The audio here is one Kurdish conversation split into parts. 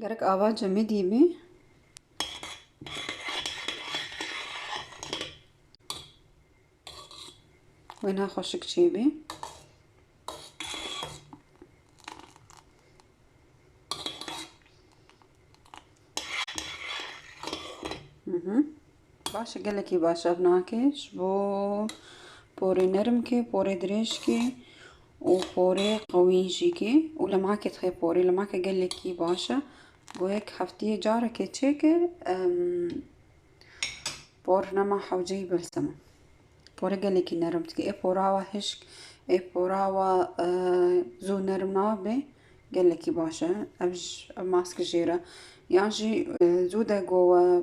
Gerek ava cemê dîbî. Wêna xweşik çêbî. Baş e gelekî baş ev nakê ji bo porê nerm kê porê dirêj kê û porê qewî jî kê û li makê dixê porê li makê gelekî baş e bo yek heftiyê carekê çêke por nema hewceyî bilsima porê gelekî nerm dike ê pora wa hişk ê pora wa zû nerm nabe gelekî baş e ev ji ev mask jêre yan jî zû de gowe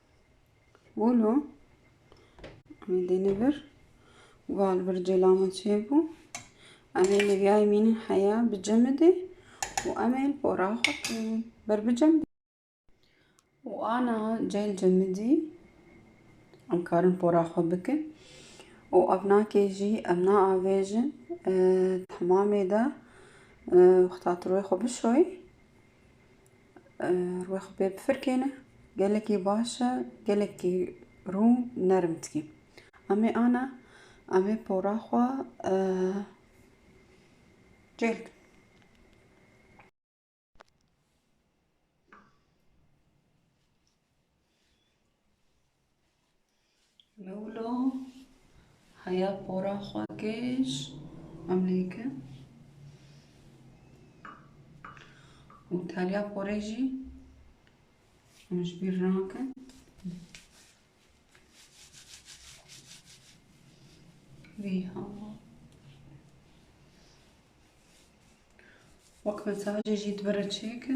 Bolo em dêne vir û bal vir cela min çêbû. Em ê lêvyayê mînin heya bi cemidê û em ê li pora xwe kevin. Ber bi cemidê. û ana cel cemidî em karin pora xwe bikin û ev nakê jî em naavêjin temamê de wexta tirwê xwe bişoyê Rûyê xwe pê bifirkêne. Gelekî baş e, gelekî rû nerm dikî. Amê ana, amê pora xwe cêr dikin. Lewlo heya pora xwe kêş emlêke û taliya porê jî em ji bîr nakin. Vî hema. Wek mesajê jî dibire çêke.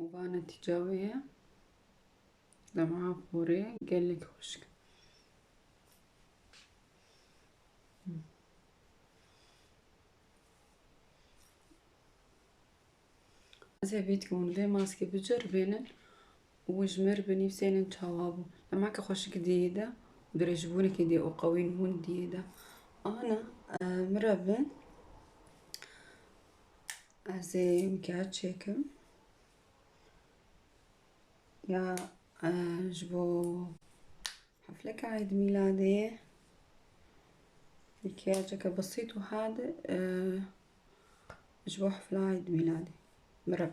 û va netîca wê ye li va porê gelek xweşik Ez ê vît ku hûn vê maskê biceribînin û ji mir binivîsînin çawa bû. Demeke xweşik diyê de û dirêjbûneke diyê û qewîn hûn diyê de. Ana min re bin. Ez ê mkiyaj çêkim. Ya ji bo hefleke eîdmîladê ye. Mkîyajeke besît û hade. Ji bo hefla Eid Mîladê. Mireb.